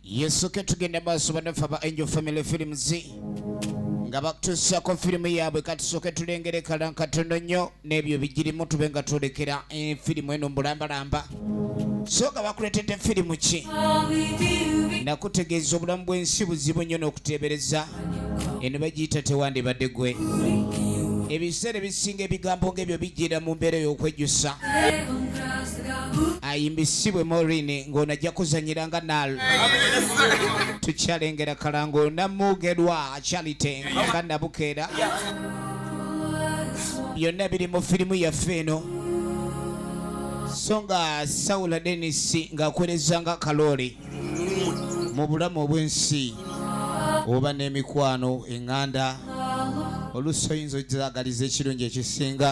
yesu ketugenda maaso banaffe aba angel family films nga batusaako firimu yaabwe katusooke tulengere kalankatononyo n'ebyo bigirimu tube nga twolekera eh, firimu eno mbulambalamba soga bakuletedde firimu ki nakutegeeza obulamu bw'ensi buzibu nnyo n'okuteebereza eno bagiyita tewandibadde gwe ebiseera ebisinga ebigambo ng'ebyo bijjira mu mbeera ey'okwejjusa ayimbisibwe morini ng'ono ajja kuzanyira nga nal tukyalengera kalango namugerwa charite nga nabukeera byonna biri mu firimu yaffe eno so nga sawula denisi ng'akweleza nga kalooli mu bulamu obw'ensi oba n'emikwano eŋŋanda oluusi oyinza ozaagaliza ekirungi ekisinga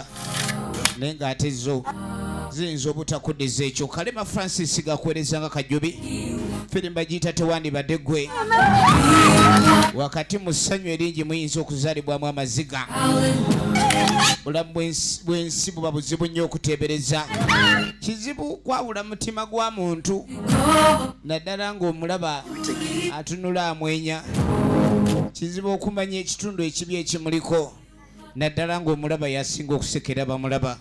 naye ng'ate zo ziyinza obutakudiza ekyo kalema francis gakweleza nga kajjubi firimba giyita tewandibadde gwe wakati mu ssanyu eringi muyinza okuzaalibwamu amaziga bulamu bwensi buba buzibu nnyo okuteebereza kizibu kwawula mutima gwa muntu naddala ng'omulaba atunula amwenya kizibu okumanya ekitundu ekibi ekimuliko naddala ng'omulaba yasinga okusekera bamulaba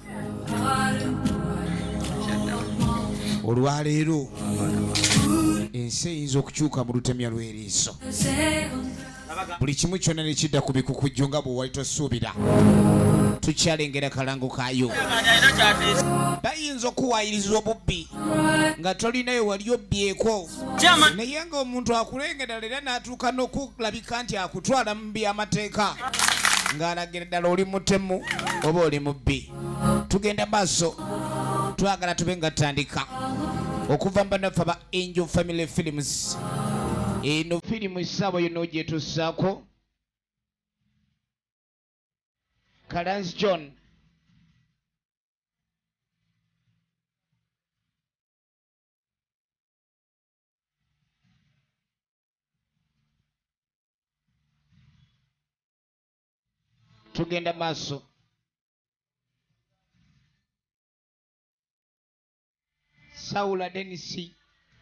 olwaleero ensi eyinza okukyuka mu lutemya lw'eriiso buli kimu kyonna ne kidda ku bikukujju nga bwe wali tosuubira tukyalengera kalango kayo bayinza okuwayiriza obubbi nga tolinayo wali obbyeko naye ngaomuntu akulengedala era n'atuuka n'okulabika nti akutwala mu by'amateeka ng'alagira ddala oli mutemu oba oli mubbi tugenda maaso twagala tube nga tutandika okuva mu banaffe aba angel family films eno firimu esaabo yona ogyetusaako kalansi john tugenda maaso sawula denisi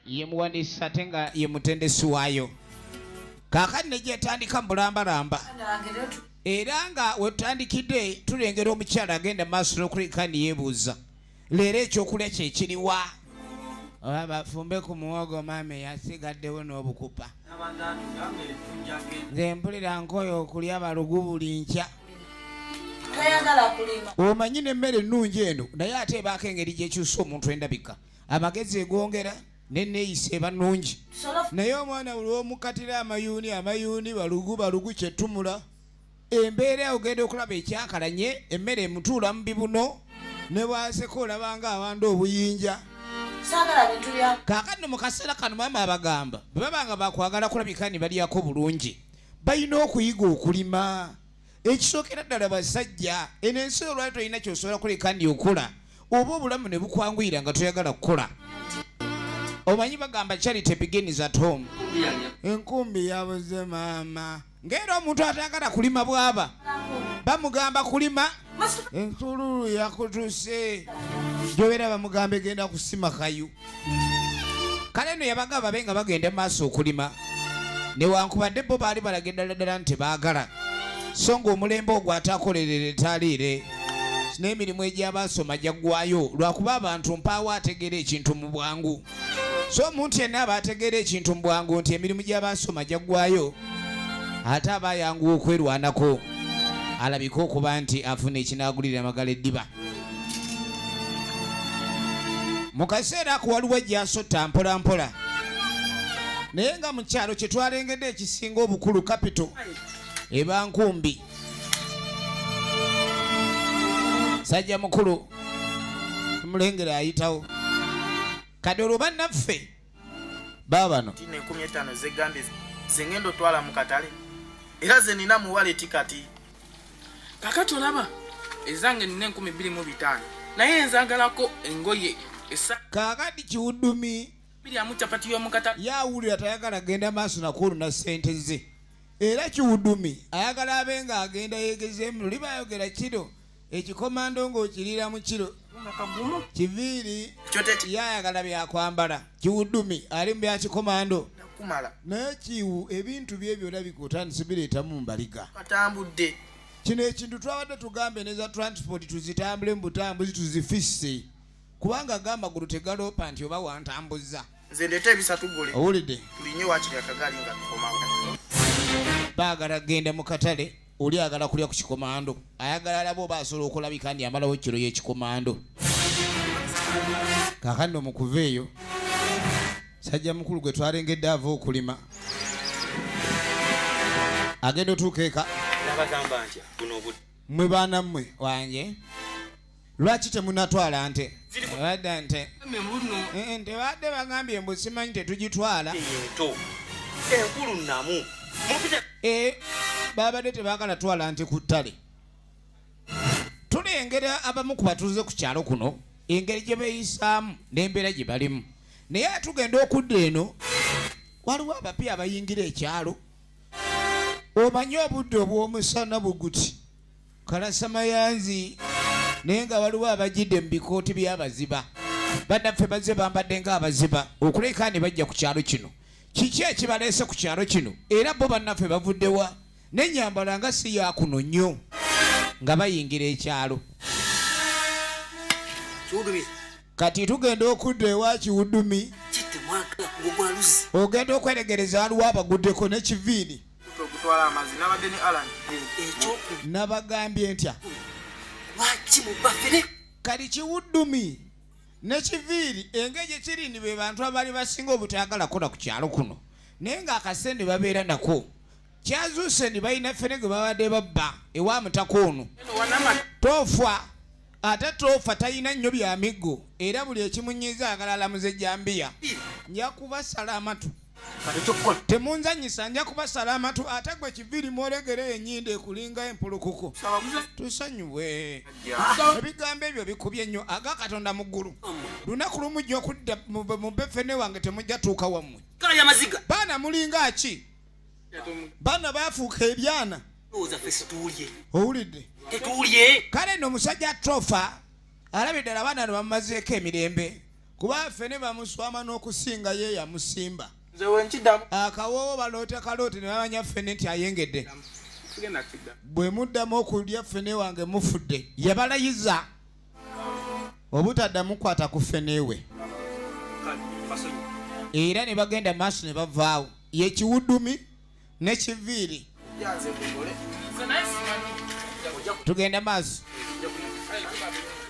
ye muwandiisi ate nga ye mutendesi waayo kaakati ne gyetandika mu bulambalamba era nga wetutandikidde tulengera omukyala agenda maaso n'okuleka niyeebuuza leero ekyokulya kyekiriwa oba bafumbe ku muwogo maama eyasigaddewo n'obukupa nze mpulira nkoyo okulya balugu buli nkya omanyi n'emmere ennungi eno naye ate ebaako engeri gyekyusa omuntu endabika amagezi egwongera neneeyisa eba nungi naye omwana buli womukatira amayuuni amayuuni balugu balugu kyetumula embeera ogenda okulaba ekyakalanye emmere emutuula mu bibuno ne bwaseka olabanga awanda obuyinja kakati mu kaseera kano maama abagamba bwe baba nga bakwagala kulabika ni balyako bulungi balina okuyiga okulima ekisookera ddala basajja eno ensi olwali tolina kyosobola kuleka ndi okula oba obulamu ne bukwanguyira nga toyagala kukola omanyi bagamba charity begins at home enkumbi yabuze maama ng'era omuntu atagala kulima bwaba bamugamba kulima ensululu yakutuse gyobeera bamugamba egenda kusima kayu kale no yabaga babe nga bagenda maaso okulima newankubadde bo baali balaga eddala ddala nti baagala so ng'omulembe ogwo ate akolerera etaliire n'emirimu egy'abaasoma gyaggwayo lwakuba abantu mpaawo ategeera ekintu mu bwangu so omuntu yenna aba ategeera ekintu mu bwangu nti emirimu gy'abaasoma gyaggwayo ate aba ayanguwa okwerwanako alabika okuba nti afuna ekinaagulira amagala eddiba mu kaseera ako waliwo ejjasotta mpolampola naye nga mu kyalo kye twalengedde ekisinga obukulu kapito eba nkumbi sajja mukulu omulengera ayitawo kati olwo bannaffe baabano enkumi etaano zegambye zengenda otwala mu katale era ze nina mu waleti kati kakati olaba ezange nina enkumi bbiri mu bitaano naye enzagalako engoye esa kakati kiwudumi biri amu capati y'omukatale yawulira tayagala genda maaso nakwoluna ssente ze era kiwudumi ayagala abe nga agenda yegezeemu luli bayogera kiro ekikomando ng'okiriira mu kiro kiviiri yayagala byakwambala kiwudumi ali mu byakikomando naye kiwu ebintu bye byona bikutandise bireetamu mbaliga atambudde kino ekintu twabadde tugambe neza transport tuzitambule mu butambuzi tuzifisse kubanga gamagulu tegaloopa nti oba wantambuzza Nze ndeeta ebisatu gole. Owulidde? Tulinye wakiri akagaali nga tukomawo. Baagala genda mu katale oli agala kulya ku kikomando ayagala alaba oba asobola okulabika ndi amalawo kiro y'ekikomando kakandi omukuva eyo sajja mukulu gwe twalengedde ava okulima agenda otuuka eka mwe baana mmwe wange lwaki temunatwala nte badda nte eh, eh, ntebadde bagambye mbu simanyi tetugitwala enkulu namu eh, babadde tebagala twala nti ku ttale tulengera abamu ku batuuze ku kyalo kuno engeri gye beeyisaamu n'embeera gye balimu naye atugenda okudda eno waliwo abapya abayingira ekyalo omanye obudde obw'omusana buguti kalasamayanzi naye nga waliwo abajidde mu bikooti by'abaziba bannaffe bazze bambadde ng'abaziba okuleka ne bajja ku kyalo kino kiki ekibaleese ku kyalo kino era bo bannaffe bavuddewa n'ennyambala nga si yakuno nnyo nga bayingira ekyalo kati tugenda okudda ewa kiwudumi ogenda okweregereza waliwo abaguddeko n'ekiviini okutwala amazzi nabadde ne alan ekyoku nabagambye ntya lwaki mubafere kali kiwuddumi nekiviiri engeri gyekiri ndi be bantu abaali basinga obutayagala kola ku kyalo kuno naye ng'akasente babeera nako kyazuuse ndi balina ffene gwe babadde babba ewa mutaka ono tofa ate toofa talina nnyo bya miggo era buli ekimunyiiza agala alamuza ejambiya nja kubasala amatu temunzanyisa nja kubasala amatu ate gwe kiviri mwolegera enyindo ekulinga empulukuku tusanyuwe ebigambo ebyo bikubye nnyo aga katonda mu ggulu lunaku lumu jja okudda mu befene wange temujja tuuka wammwe baana mulinga ki bana bafuuka ebyana owulidde kale no omusajja trofa alabye ddala abaana no bamumazeeko emirembe kuba ffe ne bamuswama n'okusinga ye yamusimba akawoowo baloota kalooti ne bamanya ffene nti ayengedde bwe muddamu okulya ffene wange mufudde yabalayiza obutaddamu kukwata ku feneewe era ne bagenda maaso ne bavaawo yekiwudumi nekiviiri tugenda maaso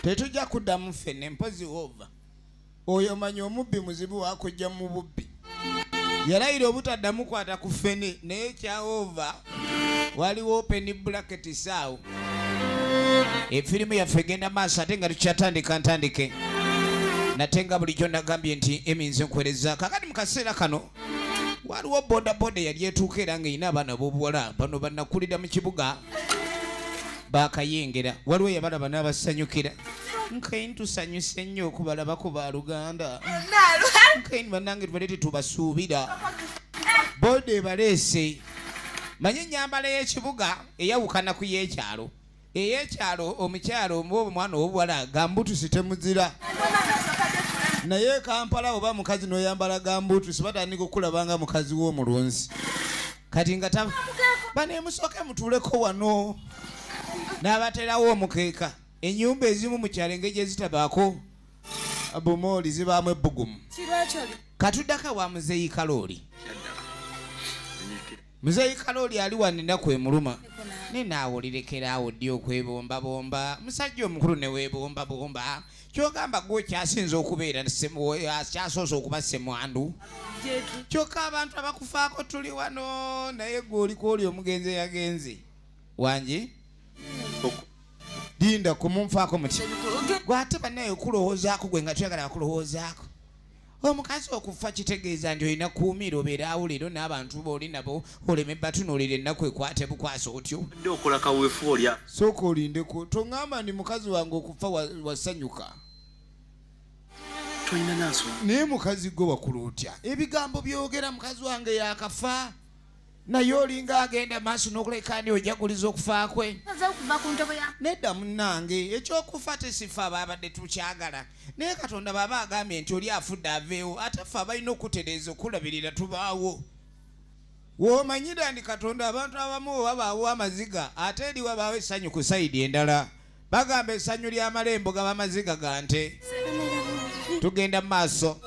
tetujja kuddamu fene mpozi wova oyo manyi omubbi muzibu wakujja mu bubbi yalayira obutaddamu kwata ku fene naye kyaova waliwo openi bulaketi saawo efirimu yaffe egenda maaso ate nga tukyatandika ntandike nate nga bulijjo nagambye nti eminzi nkuwereza kakati mu kaseera kano waliwo bodaboda eyali etuuka era ng'erina abaana b'obuwala bano banakulira mu kibuga bakayengera waliwo yabalaba n'abasanyukira nkain tusanyuse nnyo okubalabako ba luganda nkain banange tubale tetubasuubira boda ebaleese manye enyambala y'ekibuga eyawukana ku y'ekyalo ey'ekyalo omukyalo oba omwana ow'obuwala gambutusi temuzira naye kampala oba mukazi noyambala gambutusi batandika okukulabanga mukazi w'omulunzi kati nga banemusooke mutuuleko wano n'abaterawo omukeeka enyumba ezimu mu kyalo engeri gyezitabaako bumooli zibaamu ebbugumu katuddaka wa muzeeyi kalooli muzeeyi kalooli ali wano ennaku emuluma ne naawe olirekeraawo ddi okwebombabomba musajja omukulu ne weebombabomba kyogamba gwe okyasinza okubeera akyasoose okuba semwandu kyokka abantu abakufaako tuli wano naye gwe oliko oli omugenzi eyagenze wangi linda kumunfaako muti gwe ate banaye okulowoozaako gwe nga tuyagala bakulowoozaako omukazi okufa kitegeeza nti olina kuumira obeeraawo leero n'abantu booli nabo oleme batunuulira ennaku ekwate bukwasa otyo dde okola kaweefu olya sooka olindeko toŋŋamba ndi mukazi wange okufa wasanyuka tolina nansonga naye mukazi gwe wakula otya ebigambo byogera mukazi wange yakafa naye olinga agenda maaso n'okuleka ani ojaguliza okufa kwe nedda munnange ekyokufa tesifa abaabadde tukyagala naye katonda baaba agambye nti oli afudde aveewo ate ffe abalina okutereeza okulabirira tubaawo womanyira ndi katonda abantu abamu wabaawo amaziga ate eri wabaawo essanyu ku sayidi endala bagamba esanyu lya malembo gaba maziga ga nte tugenda mu maaso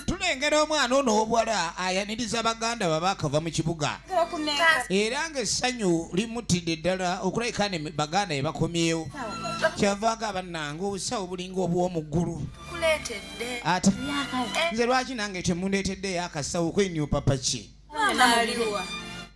tulengera omwana ono obuwala ayaniriza baganda baba akava mu kibuga era nga essanyu limutidde ddala okulabika ne baganda ye bakomyewo kyavaaga bannange obusawo bulinga obw'omuggulu ate nze lwaki nange temundeeteddeyo akasawo kwenyupapaki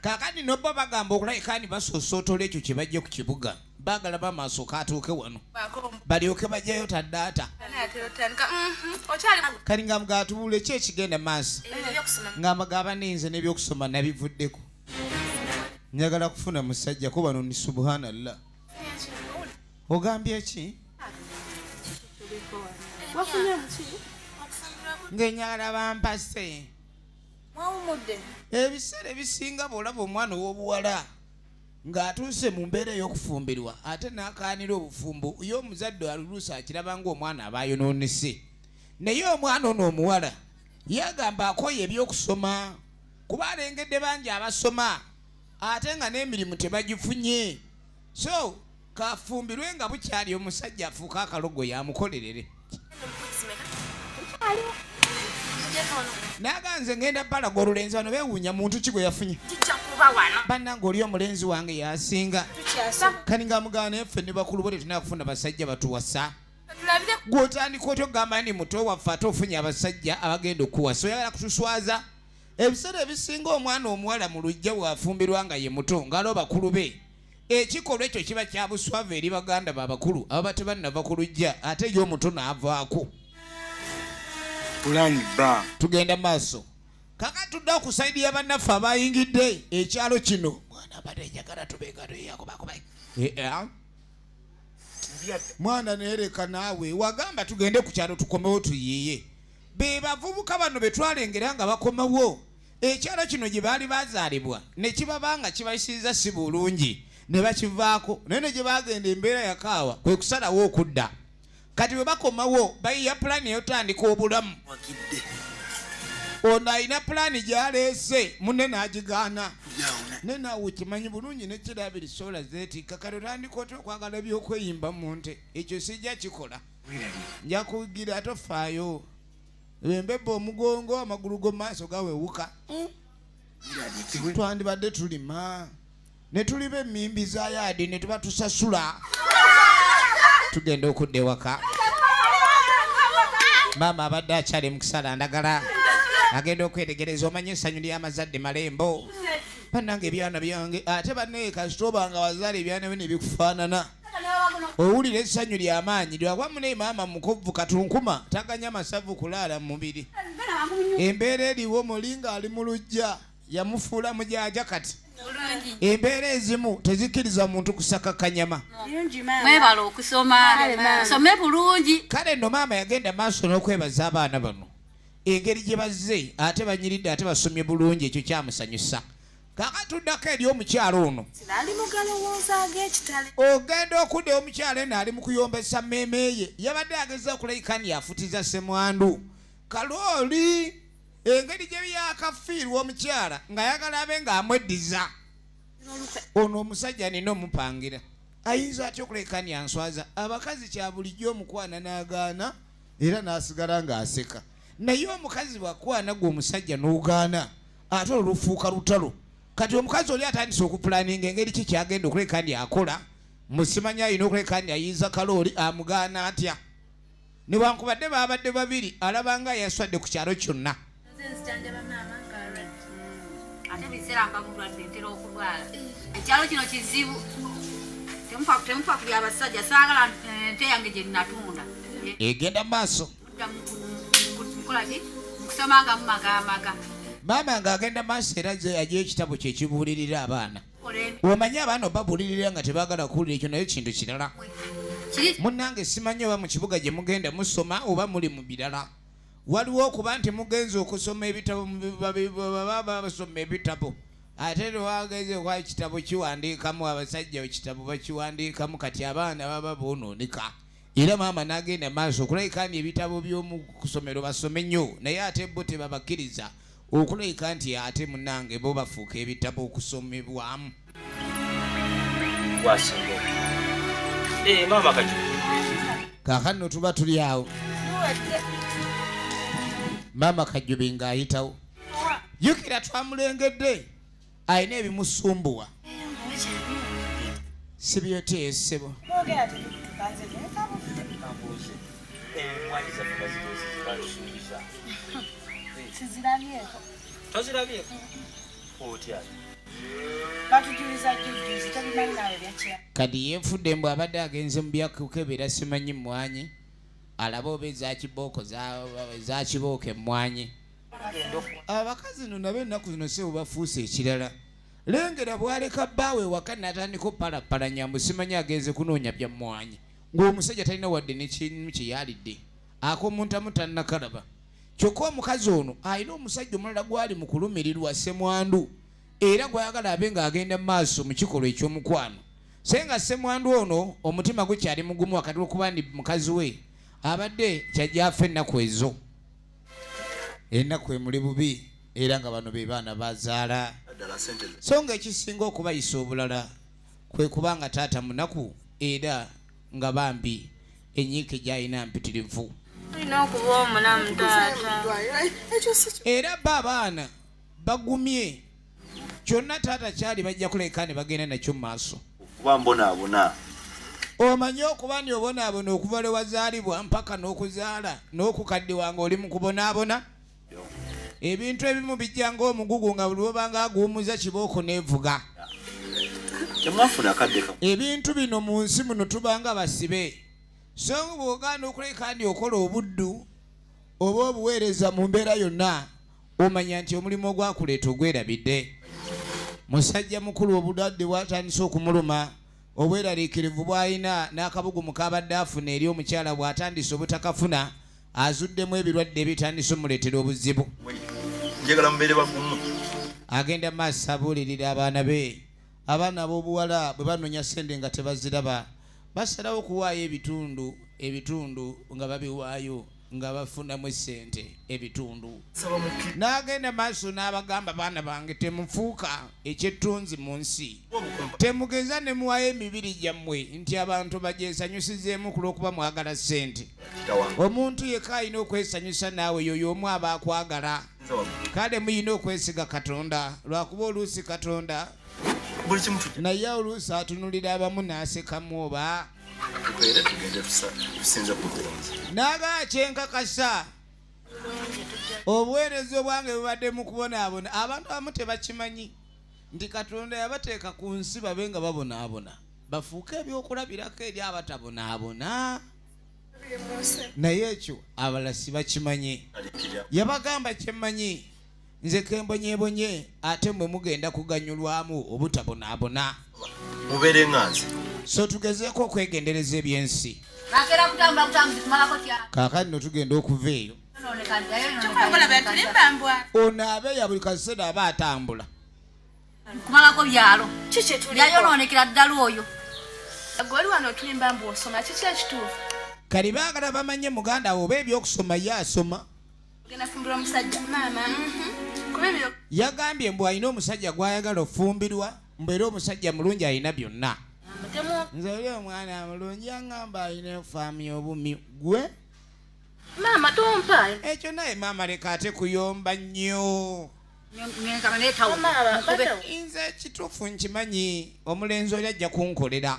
kakati nobba bagamba okulabika ni basosootola ekyo kye bajja ku kibuga baagala bamaaso katuuke wano balyoke bajjayo taddaata mhm, kati nga mugatubuule ki ekigenda maaso nga magaba ninze n'ebyokusoma nabivuddeko njagala kufuna musajja kuba no ni subhanallah ogambye ki ngenyala bampase ebiseera ebisinga bw'olaba omwana ow'obuwala ng'atuuse mu mbeera ey'okufumbirwa ate n'akaanira obufumbo ye omuzadde aluluusi akiraba ng'omwana aba ayonoonese naye omwana ono omuwala yagamba akoye eby'okusoma kuba alengedde bangi abasoma ate nga n'emirimu tebagifunye so kafumbirwe nga bukyali omusajja afuuka akalogo yamukolerere naga nze ngenda balaga olulenzi bano bewuunya muntu ki gwe yafunye bannanga oli omulenzi wange yasinga kaninga mugana effe ne bakulu bo tetulina kufuna basajja batuwasa gwotandika otyo gamba ndi muto waffe ate ofunye abasajja abagenda okuwasa oyagala kutuswaza ebiseera ebisinga omwana omuwala mu lujja bw'afumbirwa nga ye muto ngalo bakulu be ekikolwa ekyo kiba kya buswavu eri baganda ba bakulu ababa tebannava ku lujja ate ye omuto n'avaako tugenda maaso kaka tudde okusaidi ya bannaffe abayingidde ekyalo kino mwana abadde njagala tubeegaeyakubakuba eh, eh, ah. mwana neereka naawe wagamba tugende ku kyalo tukomewo tuyiiye be bavubuka bano be twalengera nga bakomawo ekyalo kino gye baali bazaalibwa ne kibaba nga kibayisiriza si bulungi ne bakivaako naye ne gye bagenda embeera yakaawa kwe kusalawo okudda kati bwe bakomawo bayiya pulaani eyotandika obulamu ono alina pulaani gyaleese munne n'agigaana naye naawe okimanyi bulungi nekirabiri sola zeetikka kati otandika otya okwagala ebyokweyimba mu nte ekyo sijja kikola njakugira tofaayo embebba omugongo amagulu go maaso gawewuka hmm? twandibadde tulima netuliba emimbi za yaadi netuba tusasula tugenda okudda ewaka maama abadde akyali mukisala ndagala agenda okwetegereza omanye esanyu lyamazadde malembo banange ebyana byange ate banaye kasitoba nga wazala ebyana byo nebikufanana owulira essanyu ly'amaanyi lyakuba mune maama mukuvvu katunkuma taganya masavu kulaala mu mubiri embeera eriwo mulinga ali mu lujja yamufuula mujaja kati embeera ezimu tezikkiriza muntu kusaka kanyama mwebala okusoma some bulungi kale no maama yagenda maaso n'okwebaza abaana bano engeri gye bazze ate banyiridde ate basomye bulungi ekyo kyamusanyusa kakati tuddako eri omukyala ono ali mugalowooza ag'ekitale ogenda okudda omukyala eno ali mu kuyombesa mmeeme ye yabadde ageza okulayikani yafutiza semwandu kalooli engeri gye byakafiirwa omukyala ng'ayagala abe ng'amweddiza ono omusajja nina omupangira ayinza atya okulekani answaza abakazi kya bulijjo omukwana n'agaana era n'asigala ng'aseka naye omukazi bwakwana gwe omusajja n'ogaana ate olufuuka lutalo kati omukazi oli atandise okupulaninga engeri ki kyagenda okuleka ndi akola musimanya alina okuleka ndi ayinza kalooli amugaana atya newankubadde babadde babiri alabanga yaswadde ku kyalo kyonna ate biseera mba mulwadde ntera okulwala ekyalo kino kizibu temufa ku byabasajja saagala nte yange gye nnatunda egenda maaso maama ng'agenda maaso era ze aja ekitabo kye kibuulirira abaana omanyi abaana obabuulirira nga tebaagala kuwulira ekyo nayo kintu kirala munnange simanyi oba mu kibuga gye mugenda musoma oba muli mu birala waliwo okuba nti mugenze okusoma ebitabo baba basoma ebitabo ate lwageze kwa kitabo kiwandiikamu abasajja ekitabo bakiwandiikamu kati abaana baba boononeka era maama n'agenda maaso okulabika nti ebitabo by'omu kusomero basome nnyo naye ate bo tebabakkiriza okulabika nti ate munange bo bafuuka ebitabo okusomebwamu eh, kakanno tuba tuli awo maama kajjubi ng'ayitawo jukira twamulengedde alina ebimusumbuwa sibyoteyo ssebo kadi yenfudde mbu abadde agenze mu byakukebera simanyi mmwanyi alaba oba ezakibooko zakibooko emmwanyi abakazi no nabo ennaku zino sebo bafuuse ekirala lengera bwaleka bbaawe waka natandika opalapalanya musimanyi agenze kunoonya bya mmwanyi ng'omusajja talina wadde nekimu kye yalidde akomuntamu tannakalaba kyokka omukazi ono alina omusajja omulala gwali mu kulumirirwa semwandu era gwayagala abe ng'agenda mu maaso mu kikolwa eky'omukwano se nga semwandu ono omutima gwe kyali mugumu wakati okuba ndi mukazi we abadde kyajja afa ennaku ezo enaku emuli bubi era nga bano be baana bazaala so nga ekisinga okubayisa obulala kwe kuba nga taata munaku era nga bambi enyiike gyalina mpitirivu era ba abaana bagumye kyonna taata kyali bajja kuleka ne bagenda nakyo mu maaso okuba mbonaabona omanyi okuba ni obonaabona okuva lwe wazaalibwa mpaka n'okuzaala n'okukaddiwa nga oli mu kubonaabona ebintu ebimu bijja ng'omugugu nga buli wobanga aguwumuza kibooko neevuga ebintu bino mu nsi muno tubanga basibe so nga bw'ogaana okuleka ndi okola obuddu oba obuweereza mu mbeera yonna omanya nti omulimu ogwakuleeta ogwerabidde musajja mukulu obudwadde bwatandise okumuluma obweraliikirivu bw'alina n'akabugumu k'abadde afuna eri omukyala bw'atandise obutakafuna azuddemu ebirwadde ebitandise omuleetera obuzibu njagala mubeere bagumu agenda maaso abuulirira abaana be abaana ab'obuwala bwe banoonya ssente nga tebaziraba basalawo okuwaayo ebitundu ebitundu nga babiwaayo nga bafunamu esente ebitundu n'agenda maaso n'abagamba baana bange temufuuka ekyettunzi mu nsi temugeza ne muwayo emibiri gyammwe nti abantu bagyesanyusizeemu ku lw'okuba mwagala sente omuntu yeka alina okwesanyusa naawe yoyo omu aba akwagala kale muyina okwesiga katonda lwakuba oluusi katonda naye oluusi atunulira abamu n'asekamu oba naga kyenkakasa obuweereza obwange bubadde mu kubonaabona abantu abamu tebakimanyi nti katonda yabateeka ku nsi babe nga babonaabona bafuuke ebyokulabirako eri abatabonaabona naye ekyo abalasi bakimanyi yabagamba kyemmanyi nze kembonyebonye ate mwe mugenda kuganyulwamu obutabonaabona mubeere nga nze so tugezeeko okwegendereza ebyensi kaakati no tugenda okuva eyo ono abeeya buli kaseera aba atambula kumalako byalo yayonoonekera ddala oyo goli wano otulimba mbu osoma kiki ekituufu kali baagala bamanye muganda wo oba ebyokusoma ye asoma yagambye mbu alina omusajja gwayagala ofumbirwa mbu era omusajja mulungi alina byonna nze oli omwana mulungi angamba alina efaamu y'obumi gwe maama tompa ekyo naye maama leka ate kuyomba nnyo nze ekituufu nkimanyi omulenzi oli ajja kunkolera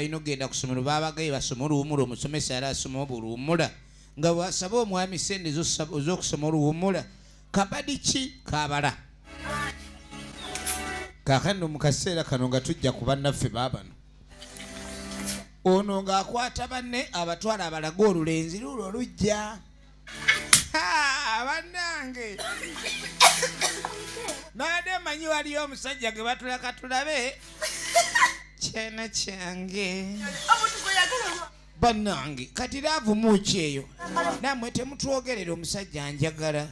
balina okugenda ku ssomero baabagaye basoma oluwumula omusomesa yali asoma oba oluwumula nga bwasaba omwami sente ez'okusoma oluwumula kabadi ki kabala kakano mu kaseera kano nga tujja ku bannaffe baabano ono ng'akwata banne abatwala abalaga olulenzi luulo olujja banange nade manyi waliyo omusajja gwe batulaka tulabe kyana kyange banange kati lavumuki eyo namwe temutwogerera omusajja njagala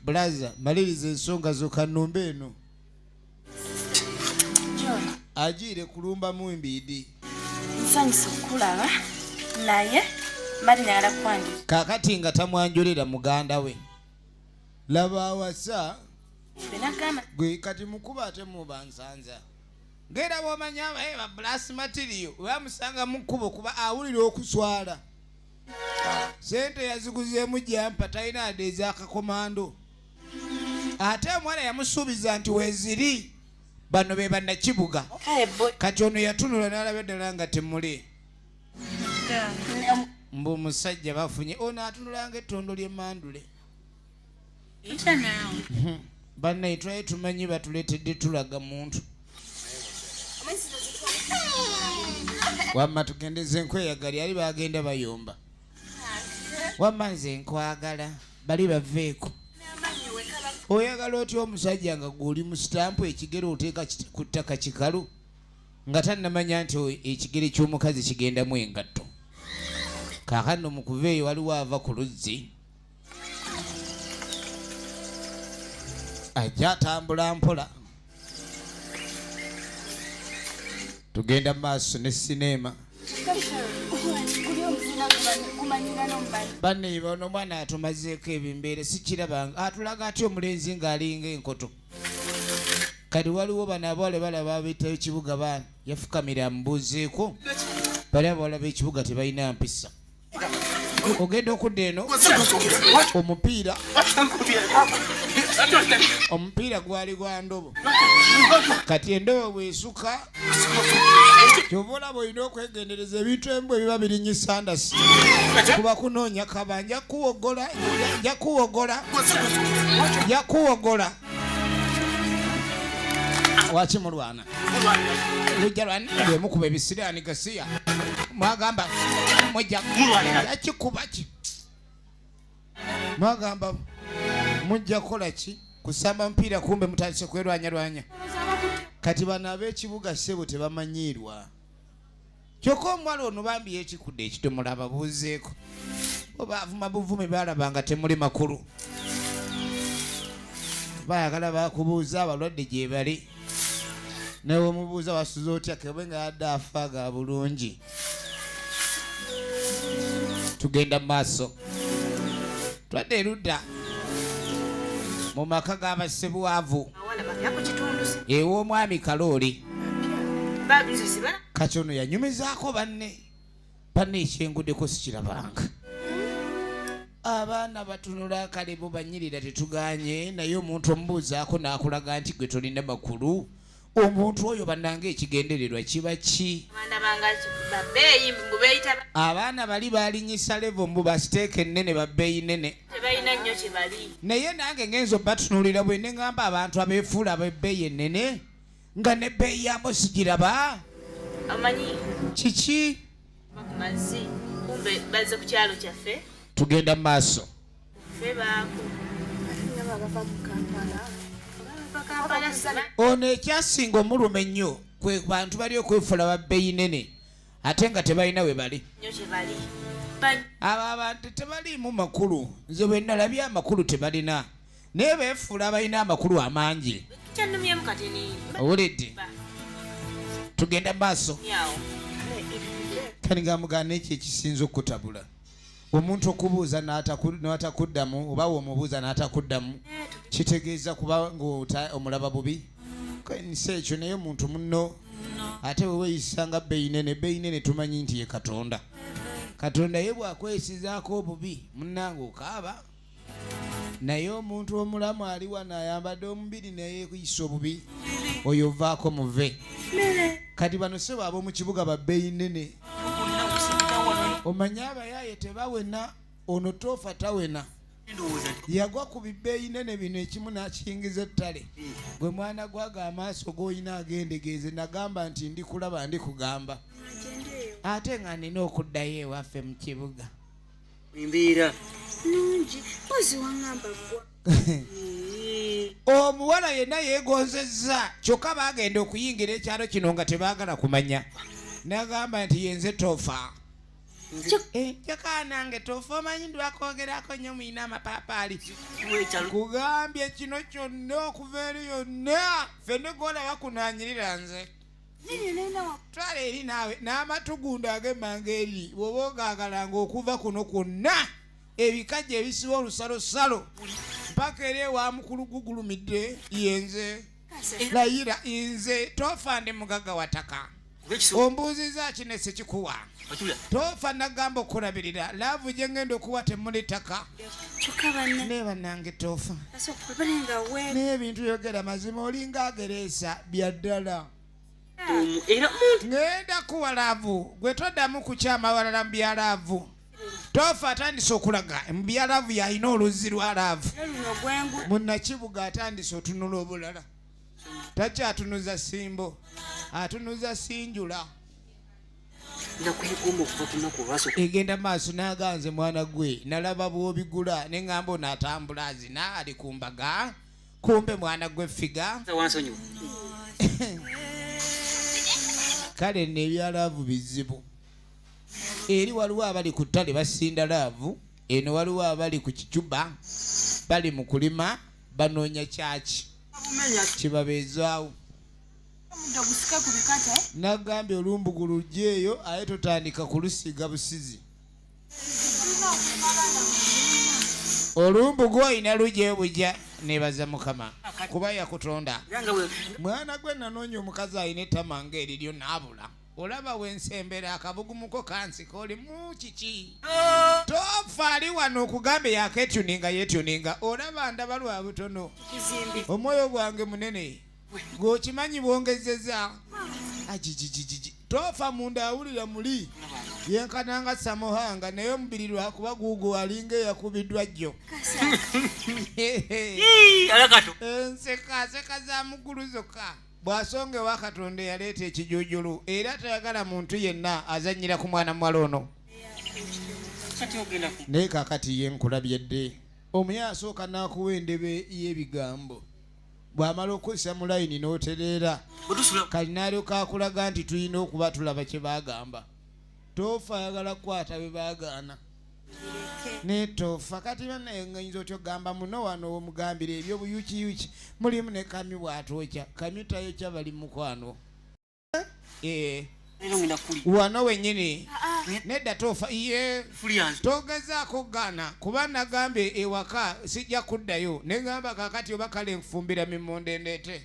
bulaza maliriza ensonga zokanumba eno agiire kulumba mu mbiidi nsanyusa okukulaba naye mari nayala kwanjula kakati nga tamwanjulira muganda we laba awasa gwe kati mukuba ate mubansanza ngera bwomanyi abaye eh, babulasi matiriyo bamusanga mu kkubo kuba awulira okuswala sente yaziguzeemu jampa talina ade ezakakomando ate omuwala yamusuubiza nti weziri bano be bannakibuga kati ono yatunula n'alaba eddala nga temuli mbu musajja bafunye ono atunulanga ettondo ly'emandule hmm. bannaye twali tumanyi batuleetedde tulaga muntu wamma tugendeze enkweyagali ali bagenda bayomba wamma nze nkwagala bali baveeko oyagala otya omusajja nga gweoli mu sitampu ekigere oteeka ku ttaka kikalu nga tannamanya nti ekigere ky'omukazi kigendamu engatto kaakano mu kuva eyo waliwo ava ku luzzi ajja atambula mpola tugenda maaso ne sineema baneiba ono omwana atumazeeko ebimbeere sikirabanga atulaga ah, aty omulenzi ng'alinga enkoto kati waliwo bano abawale balaba abetayo ekibuga baana yafukamira amubuuzeeko bali abawala b'ekibuga tebalina mpisa ogenda okudda eno omupiira omupiira gwali gwa ndobo kati endobo bwesuka kyova olaba olina okwegendereza ebintu emu bwe biba birinyi sandasi kuba kunoonya kaba nja kuwogola nja kuwogola nja kuwogola wakimulwana lujja lwani lwemukuba ebisiraani gasiya mwagamba mujja yakikubaki mwagamba mujja kukola ki kusamba mupiira kumbe mutandise kwerwanyarwanya kati bano ab'ekibuga ssebo tebamanyiirwa kyokka omuwala ono bambi yekikudde ekidomola ababuuzeeko oba avuma buvumi baalaba nga temuli makulu bayagala bakubuuza abalwadde gyebali naye omubuuza wasuza otya kebe nga yadde afa ga bulungi tugenda mu maaso twadde erudda mu maka g'abasebwavu ew'omwami kalooli kati ono yanyumizaako banne banne ekyengudeko sikirabanga abaana batunula akalibu banyirira tetuganye naye omuntu omubuuzaako n'akulaga nti gwe tolina makulu omuntu oyo bananga ekigendererwa kiba ki abaana bali balinyisa levo mbu basiteeka ennene babbeeyi nene naye nange ngenza obatunulira bwe neŋamba abantu abeefuula abebbeeyi ennene nga ne bbeeyi ya mbozi giraba amanyi kiki mazi kumbe bazze ku kyalo kyaffe tugenda mu maaso ono ekyasinga omuluma ennyo kwe bantu bali okwefula babbeyi nene ate nga tebalina we bali abo abantu tebaliimu makulu nze bwe nalabye amakulu tebalina naye befuula abalina amakulu amangi owulidde tugenda maaso kanigamugana ekyo ekisinza okutabula omuntu okubuuza natakuddamu oba womubuuza natakuddamu eh, kitegeeza kuba nga omulaba bubi nsi ekyo naye omuntu muno ate weweyisa nga beyinene beyinene tumanyi nti ye katonda katonda ye bwakwesizaako obubi munange okaaba naye omuntu omulamu ali wano ayambadde omubiri neyeyisa obubi oyo ovaako muve kati bano sebo ab'omu kibuga babbeyi nene omanye abayaaye tebawena ono toofa tawena yagwa ku bibbeeyi nene bino ekimu n'akiyingiza ettale gwe mwana gwaga amaaso g'olina agendegeeze nagamba nti ndi kulaba ndi kugamba ate nga nina okuddayo ewaffe mu kibuga embeera nungi mpozi wangamba gwa omuwala yenna yegonzezza kyokka bagenda okuyingira ekyalo kino nga tebagala kumanya nagamba nti yenze tofa kyokka eh, nange tofa omanyi ndwakwogerako nnyo muyina amapaapaali kugambye kino kyonna okuva eri yonna fenegolaba kunanyirira nze twala eri naawe n'amatugundo ag'emmanga eri bw'oba ogaagalanga okuva kuno kwonna ebikajja ebisiba olusalosalo mpaka era ewa mukulu gugulumidde yenze layira nze tofande mugagga wataka ombuuzizza kino esikikuwa tofa nagamba okulabirira laavu gye ngenda okuwa temuli ttaka naye bannange tofa naye ebintu yogera mazima olinga agereesa bya ddala ngenda kuwa laavu gwe toddamu kukyama walala mu bya laavu tofa atandise okulaga mu bya laavu yalina oluzzi lwa laavu munakibuga atandise otunula obulala takyatunuza simbo atunuza sinjula egenda maaso naganze mwana gwe nalaba bwobigula neŋamba ono atambula azina ali ku mbaga kumbe mwana gwe figa kale no ebyalaavu bizibu eri waliwo abali ku ttale basinda laavu eno waliwo abali ku kicuba bali mu kulima banoonya kyaki kibabeezaawo nagambye olumbugu lujja eyo aye totandika kulusiiga busizi olumbugu olina lujja eyo bujja nebaza mukama kuba yakutonda mwana gwe nanoonya omukazi alina ettama nga eriryo naabula olaba wensembera akabugumuko kansika olimu kiki oh. tofa ali wano okugambe yaketuninga yetuninga olaba ndaba lwa butono omwoyo gwange munene ng'okimanyi bwongezeza ajijijijiji tofa munda awulira muli yenkana nga samuhanga naye omubiri lwakuba guugu alinga eyakubiddwa jjo enseka nseka za mugulu zokka bw'asonga ewa katonda eyaleeta ekijujulu era tayagala muntu yenna azannyira ku mwana muwala ono naye kakati ye nkulabye dde omuye asooka n'akuwa endebe y'ebigambo bw'amala okuzza mu layini n'otereera kati naalyoka akulaga nti tulina okuba tulaba kye baagamba toofa ayagala kukwata bye baagaana naye toofa kati banayinza otya okugamba muno wano omugambira ebyobuyukiyuki mulimu ne kamyu bw'atookya kamyu tayokya bali mukwano eh. wano wenyini ah, ah. nedda tofa ye togezaako kugaana kuba nagambye ewaka sijja kuddayo negamba kakati oba kale nfumbira mimonde ndeete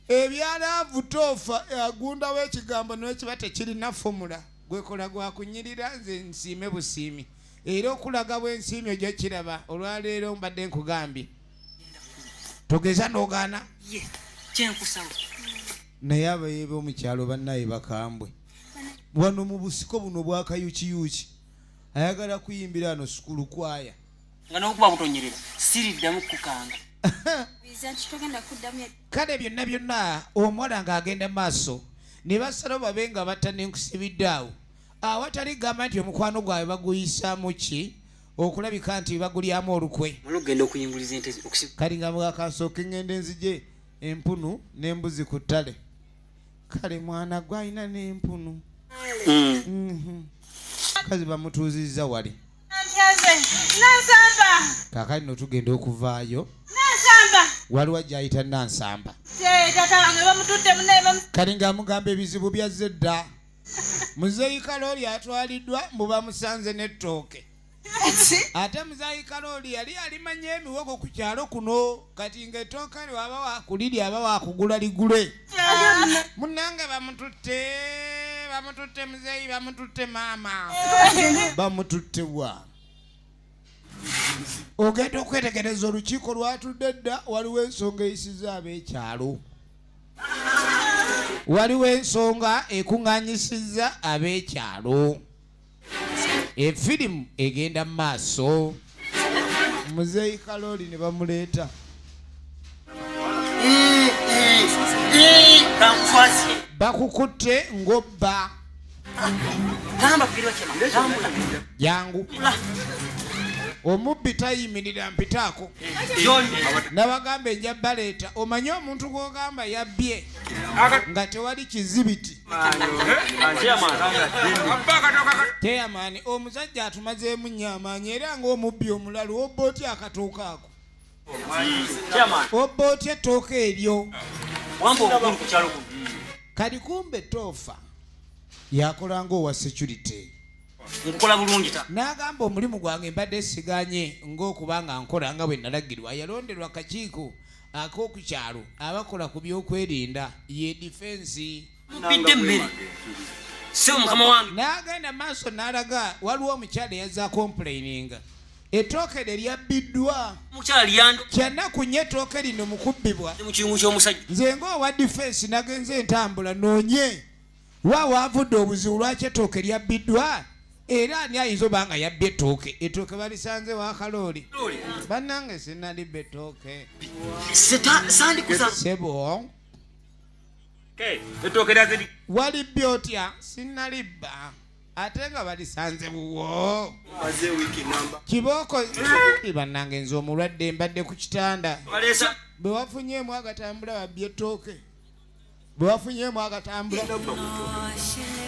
ebyalaavu toofa agundawo ekigambo nekiba tekirina fomula gwekola gwakunyirira nze nsiime busiimi era okulaga bwensiimi ojja kiraba olwaleero mbadde nkugambye togeza nogaana kyenkusaba naye abaye bomukyalo banaye bakambwe wano mu busiko buno bwakayukiyuki ayagala kuyimbira ano sukulu kwaya nga nokuba butonyerera siriddamu kukanga kale byonna byonna omuwala nga agenda maaso ne basalawo babe nga batta nenkusibidde awo awatali gamba nti omukwano gwabwe baguyisaamu ki okulabika nti bagulyamu olukwe kati nga mugakansooka eŋŋenda enzije empunu n'embuzi ku ttale kale mwana gwe alina n'empunu mm. mhm. kazi bamutuuzizza wali kakati no tugenda okuvaayo waliwo ajayita nansamba kati nga amugamba ebizibu byazze dda muzeeyi kalooli atwaliddwa mbu bamusanze n'ettooke ate muzeeyi kalooli yali alimanya emiwogo ku kyalo kuno kati ng'ettooke lyo aba wakulirya aba wakugula ligule munnange bamututte bamututte muzeeyi bamututte maama bamututte wa ogenda okwetegereza olukiiko lwatudde dda waliwo ensonga eyisiza ab'ekyalo waliwo ensonga ekuŋŋanyisizza ab'ekyalo efirimu egenda mu maaso muzeeyi kalooli ne bamuleeta bakukutte ng'obba jangu omubbi tayimirira mpitaako nabagamba enja baleeta omanye omuntu gwogamba yabbye nga tewali kizibiti teyamaani omusajja atumazeemu nnyo amaanyi era ngaomubbi omulalu obba otya akatuuka ako obba otya ettooka eryo kali kumbe toofa yakolanga owa security nkukola bulungi ta n'agamba omulimu gwange mbadde siganye ng'okuba nga nkola nga bwe nalagirwa yalonderwa kakiiko ak'oku kyalo abakola ku byokwerinda ye difensi mubbidde emmere sebo mukama wange n'agenda maaso n'alaga waliwo omukyala eyaza kompulayininga etooke lye lyabbiddwa mukyala lyando kyannaku nnyo etooke lino mukubbibwa mu kiungu ky'omusajja nze ng'owa difensi nagenze entambula noonye wa waavudde obuzibu lwaki etooke lyabbiddwa era ani ayinza oba nga yabbye ettooke ettooke balisanze wakalooli bannange sinalibba ettooke sebo walibbye otya sinnalibba ate nga balisanze wuwo kibooko bannange nze omulwadde mbadde ku kitanda bwe wafunyeemu agatambula babbye ettooke bwe wafunyeemu agatambula oh,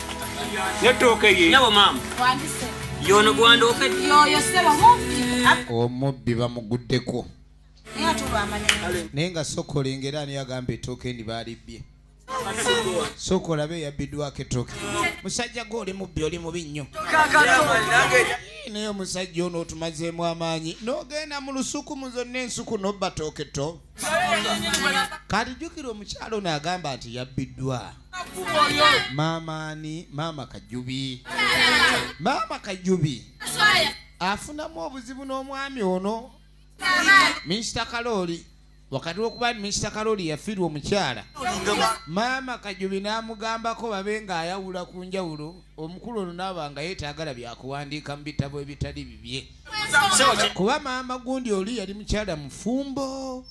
omubbi bamuguddeko naye nga sokola engera ani agamba etooka endi baalibbye sokola be yabbiddwako etooka musajja gwe oli mubbi oli mubi nnyo naye omusajja ono otumazeemu amaanyi n'ogenda mu lusuku mu zonna ensuku nobbatooke to kati jjukira omukyalo ono agamba nti yabbiddwa maama ani maama kajubi maama kajubi afunamu obuzibu n'omwami ono minsita kalooli wakati wokuba nti minsita kalooli yafiirwa omukyala maama kajubi n'amugambako babe nga ayawula ku njawulo omukulu ono naaba nga yeetagala byakuwandiika mu bitabo ebitali bibye kuba maama gundi oli yali mukyala mufumbo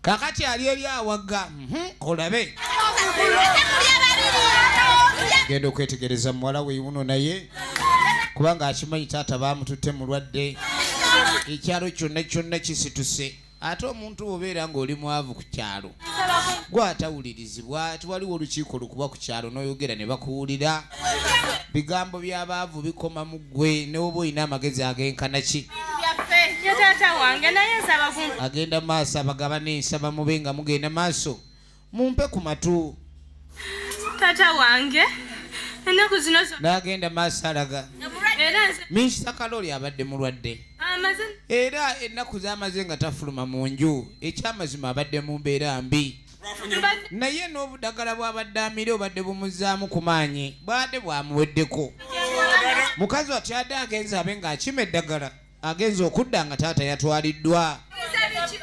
kakati ali eri awaga mhm, olabe genda okwetegereza muwala weyuno naye kubanga akimanyi taata bamututte mulwadde ekyalo kyonna kyonna kisituse ate omuntu bwobeera ng'oli mwavu ku kyalo gwatawulirizibwa tiwaliwo olukiiko lukuba ku kyalo n'oyogera ne bakuwulira bigambo by'abaavu bikoma mu ggwe newoba olina amagezi agenkana ki agenda maaso abagabane nsaba mube nga mugenda maaso mumpe ku matu taata wange ennaku zino naagenda maaso alaga minsita kalooli abadde mulwadde era ennaku zamaze nga tafuluma mu nju ekyamazima abadde mu mbeera mbi naye n'obudagala bwabadde amire obadde bumuzaamu ku maanyi bwade bwamuweddeko mukazi watya ade agenza abe ng'akima eddagala agenze okudda nga taata yatwaliddwa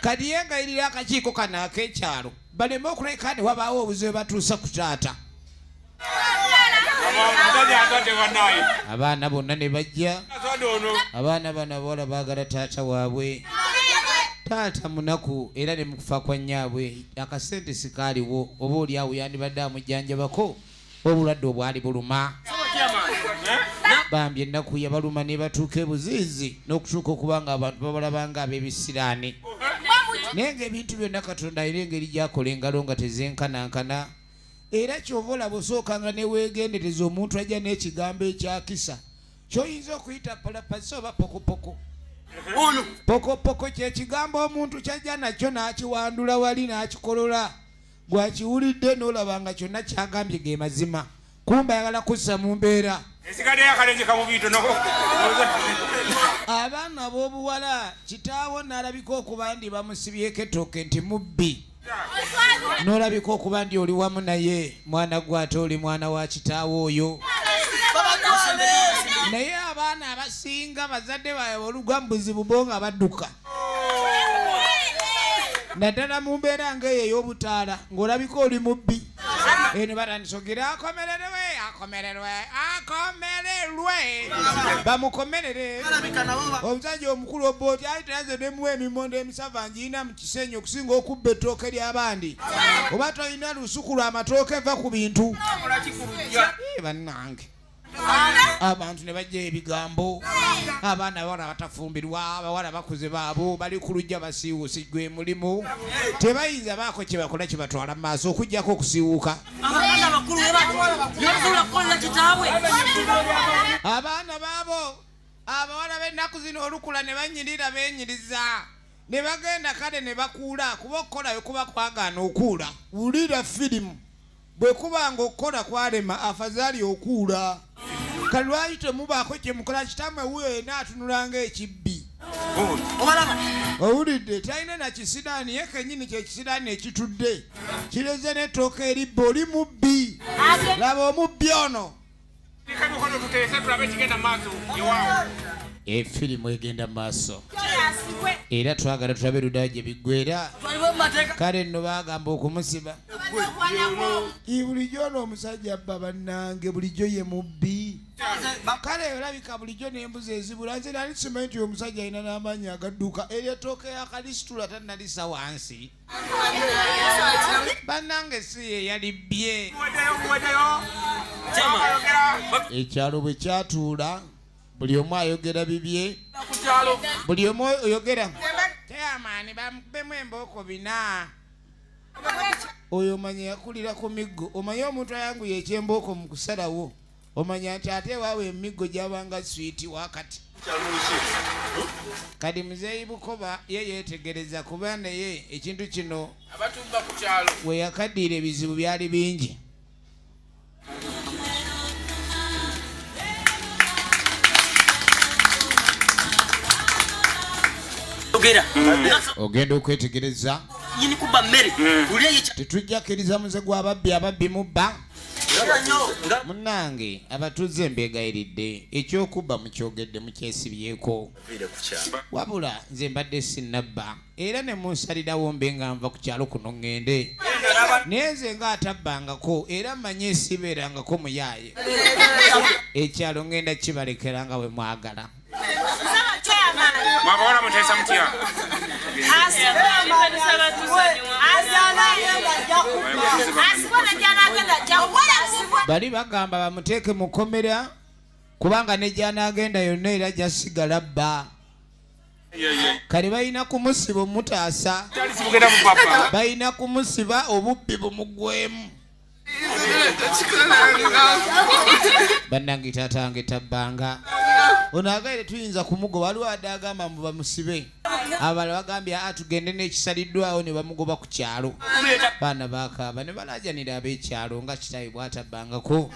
kati yengayirira akakiiko kano ak'ekyalo baleme okuleka ne wabaawo obuzibu batuusa ku taata abaana bonna ne bajja abaana bano abawala baagala taata waabwe taata munaku era ne mukufa kwa nnyaabwe akasente sikaaliwo oba oli awo yandibadde amujjanjabako obulwadde obwali buluma bambi ennaku yabaluma ne batuuka ebuziizi n'okutuuka okuba nga abantu babalabanga ab'ebisiraani naye ng'ebintu byonna katonda alina engeri gyakola engalo nga tezenkanankana era kyova olaba osooka nga neweegendereza omuntu ajja n'ekigambo ekyakisa kyoyinza okuyita palapasi oba pokopoko pokopoko kyekigambo omuntu kyajja nakyo n'akiwandula wali n'akikolola Gwe akiwulidde n'olaba nga kyonna kyagambye ge mazima, kumba ayagala kussa mu mbeera. Abaana b'obuwala kitaawo n'alabika okuba ndi bamusibyeko ettooke nti mubbi. N'olabika okuba ndi oli wamu naye mwana gwe ate oli mwana wa kitaawo oyo. Naye abaana abasinga bazadde baabwe olugwa mu buzibu bo nga badduka. naddala mu mbeera ngaeyo ey'obutaala ng'olabika oli mubbi eno batandisogira akomererwe akomererwe akomererwe bamukomerere omusajja omukulu obba oti ali tayaze nemuwa emimondo emisava ngiina mu kisenyi okusinga okubba ettooke ly'abandi oba tolina lusuku lwa matooke va ku bintu bannange abantu ne bajja ebigambo abaana abawala batafumbirwa abawala bakuze baabo bali ku lujja basiiwuusi gwe mulimu tebayinza baako kye bakola kye batwala mu maaso okugyako okusiiwuuka abaana baabo abawala b'ennaku zino olukula ne banyirira benyiriza ne bagenda kale ne bakuula kuba okukolayo kuba kwagaana okuula wulira firimu bwe kuba ng'okukola kwalema afazaali okuula kale lwaki temubaako kye mukola kitammwe wuyo yena atunula ng'ekibbi owulidde talina na kisiraani ye kenyini kyekisiraani ekitudde kireze n'ettooka eribba oli mubbi laba omubbi ono efirimu egenda maaso era twagala tulabe ludayo gye biggwera kale nno bagamba okumusiba bulijjo noomusajja abba bannange bulijjo ye mubbi kale olabika bulijjo nembuzi ezibula nze nali simanyi nti omusajja alina n'amaanyi agadduka eryetooka yakalisitula tanalisa wansi banange si ye yali bye ekyalo bwe kyatuula buli omu ayogera bibye buli omu oyogera teyamaani bamukubemu embooko bina oyo omanya yakulira ku miggo omanye omuntu ayanguye ekyembooko mu kusalawo omanya nti ate ewaawo emiggo gyabanga swiiti wakati kati muzeeyi bukoba ye yeetegereza kuba naye ekintu kino we yakaddiira ebizibu byali bingi ogenda okwetegereza tetujja kkiriza muze gw'ababbi ababbi mubba munange abatuuze mbegayiridde ekyokubba mukyogedde mukyesibyeko wabula nze mbadde sinabba era ne munsalirawo mbe nga nva ku kyalo kuno ŋŋende naye nze nga atabbangako era manye esibeerangako muyaaye ekyalo ŋŋenda kibalekera nga bwe mwagala mwabawala muteesa mutya bali bagamba bamuteeke mu kkomera kubanga ne gyanaagenda yonna era jasigala bba kale balina kumusiba omutaasa balina kumusiba obubbi bumugwemu bannange taata nge tabbanga ono agaire tuyinza kumugoba waliwo adde agamba mbu bamusibe abala bagambye a ah, tugende n'ekisaliddwawo ne bamugoba ku kyalo baana bakaaba ne balajanira ab'ekyalo nga kitawe bwatabbangako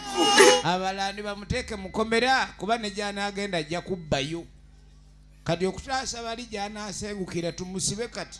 abala ni bamuteeke mukomera kuba ne gyanaagenda ajja kubbayo kati okutaasa bali gyanaasengukira tumusibe kati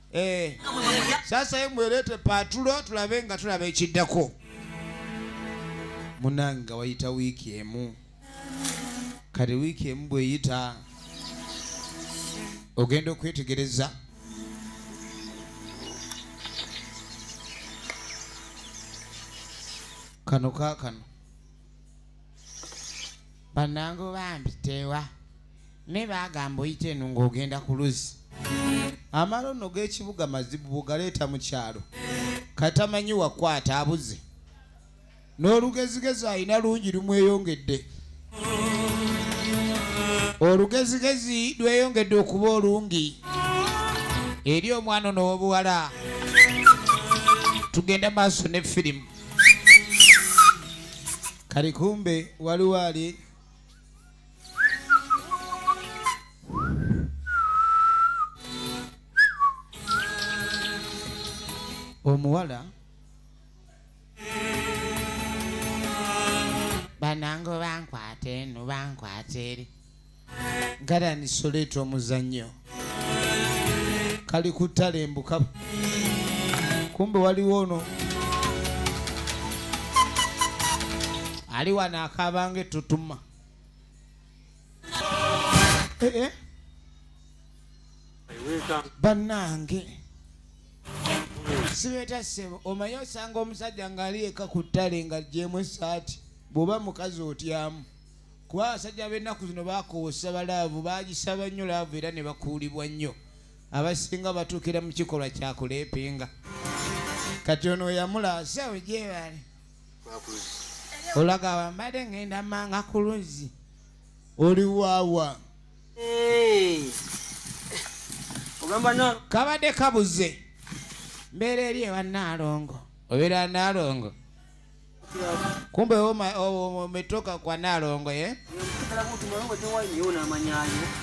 Eh. Sasa ye mwerete patulo tulabe nga tulaba ekiddako. Munanga wayita wiki emu. Kati wiki emu bweyita ogenda okwetegereza kano kakano banange bambi tewa me bagamba oyita eno ng'ogenda ku luzzi amala ono g'ekibuga mazibu bugaleeta mu kyalo katamanyi wakwata abuze n'olugezigezi alina lungi lumweyongedde olugezigezi lweyongedde okuba olungi eri omwana n'obuwala tugenda maaso ne firimu kali kumbe waliwo ali omuwala banange bankwata eno bankwata eri garani soleeta omuzannyo kali kuttale embuka kumbe waliwo ono ali wano akaabanga etutuma eh, eh. bannange sibeeta sebo omaye osanga omusajja ng'ali eka ku ttale nga jemu esaati bw'oba mukazi otyamu kuba abasajja b'ennaku zino baakoosa balaavu bagisaba nnyo laavu era ne bakuulibwa nnyo abasinga batuukira mu kikolwa kya kuleepinga kati ono yamula sawe gyebali olaga wambadde ngenda manga ku luzzi oli waawa kabadde kabuze mbeera eri ewa naalongo obeera naalongo Kumbe umetoka kwa Nalongo ye?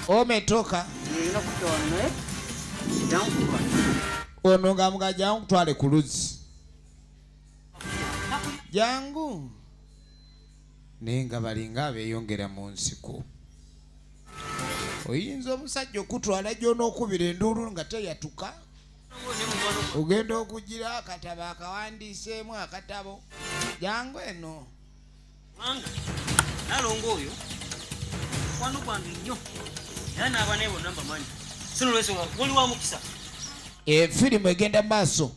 Umetoka ono nga mga jangu kutwale ku luzzi jangu naye nga balinga abeyongera mu nsiko oyinza omusajja okutwala gy'onookubira enduulu nga teyatuka ogenda okugira akatabo akawandiiseemu akatabo jangu eno nalongo oyo mukwano gwange nnyo era n'abaana ebo namba manyi sinolwensonga oli wa mukisa efirimu eh, egenda maaso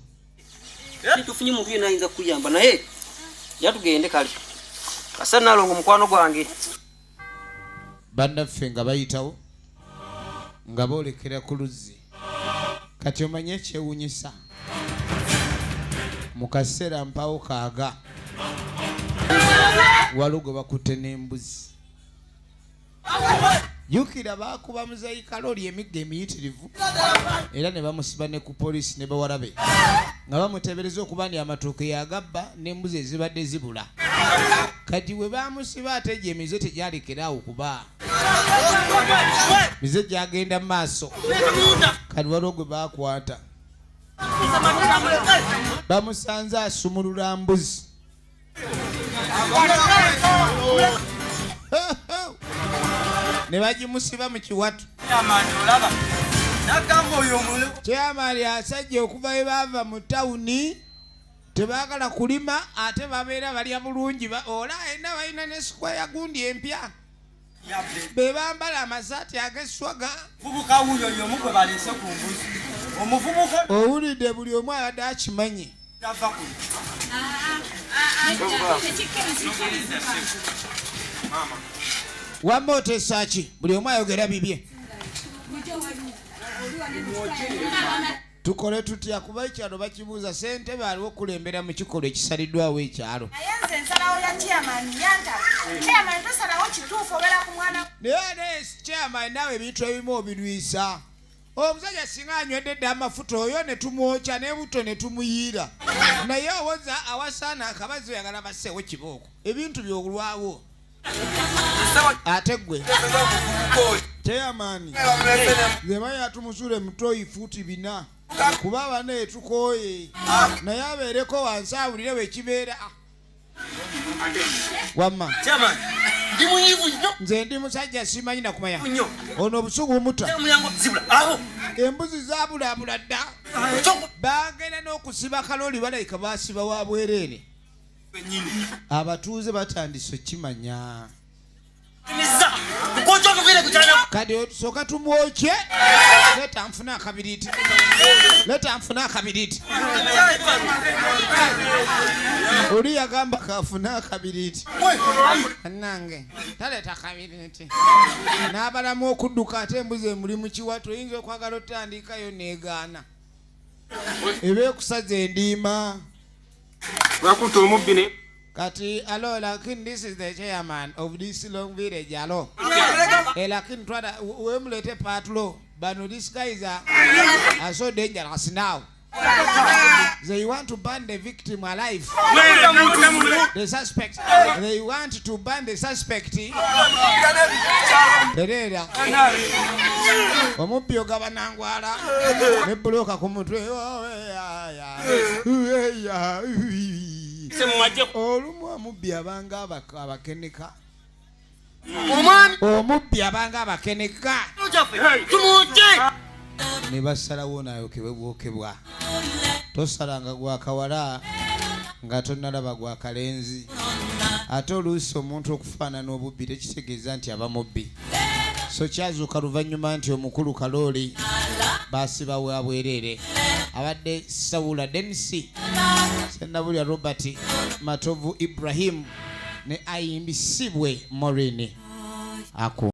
era tetufunye muntu yena ayinza kukuyamba naye yatugende kale kasa nalongo mukwano gwange bannaffe nga bayitawo nga boolekera ku luzzi kati omanye ekyewunyisa mu kaseera mpawo kaaga waliwo gwe bakutte n'embuzi jukira baakuba muzeyi kalooli emigga emiyitirivu era ne bamusiba ne ku poliisi ne bawarabe nga bamuteebereza okuba ndi amatuuke yagabba n'embuzi ezibadde zibula kati we baamusiba ate gye emize tegyalekera awo kuba mize gyagenda mu maaso kati waliwo gwe bakwata bamusanze asumulula mbuzi ne bagimusiba mu kiwatu kyamali asajja okuva we baava mu tawuni tebagala kulima ate babeera balya bulungi ola ena balina ne sikwaya gundi empya bebambala amasaati ageswaga owulidde buli omu abadde akimanyi wamma otesaki buli omu ayogera bibye tukole tutya kuba ekyalo bakibuuza sente baaliwo okulembera mu kikolwa ekisaliddwawo ekyalo naye aleesi chairman naawe ebintu ebimu obirwisa omusajja singa anywedde dda amafuta oyo ne tumwokya nebuto ne tumuyiira naye owoza awasaana akabazi oyagala baseewo kibooko ebintu byolwawo ate gwe teyamaani zeba yatumusula emutoyi fuuti bina kuba abana etukooye naye abeereko wansi awulire wekibeera wamma nze ndi musajja simanyi nakumaya ono obusugu bumuta embuzi zabulabula dda bagenda n'okusiba kaloli balayika basiba wa bwereere abatuuze batandise okukimanya kati soka tumwokye leta nfuna akabiriti leta nfuna akabiriti oli yagamba kafuna akabiriti anange taleta kabiriti n'abalamu okudduka ate embuzi emuli mu kiwa toyinza okwagala otandikayo negaana eba ekusaza endiima Bakuta omubbi ne kati alo lakin this is the chairman of this long village alo e eh, lakin twada wemulete patlo bano this guy is a, a so dangerous now They want to burn the victim alive. The suspect. They want to burn the suspect. Terera. Omuppi ogaba nangwala ne buloka ku mutwe. olumu omubbi abanga abakeneka omubbi abanga abakeneka ne basalawo nayokebwe bwokebwa tosalanga gwakawala nga tonalaba gwakalenzi ate oluusi omuntu okufaanana obubbi tekitegeeza nti aba mubbi so kyazuuka luvannyuma nti omukulu kalooli baasiba wa bwereere abadde sawula denisi senabulya robert matovu ibrahimu ne ayimbi sibwe morini aku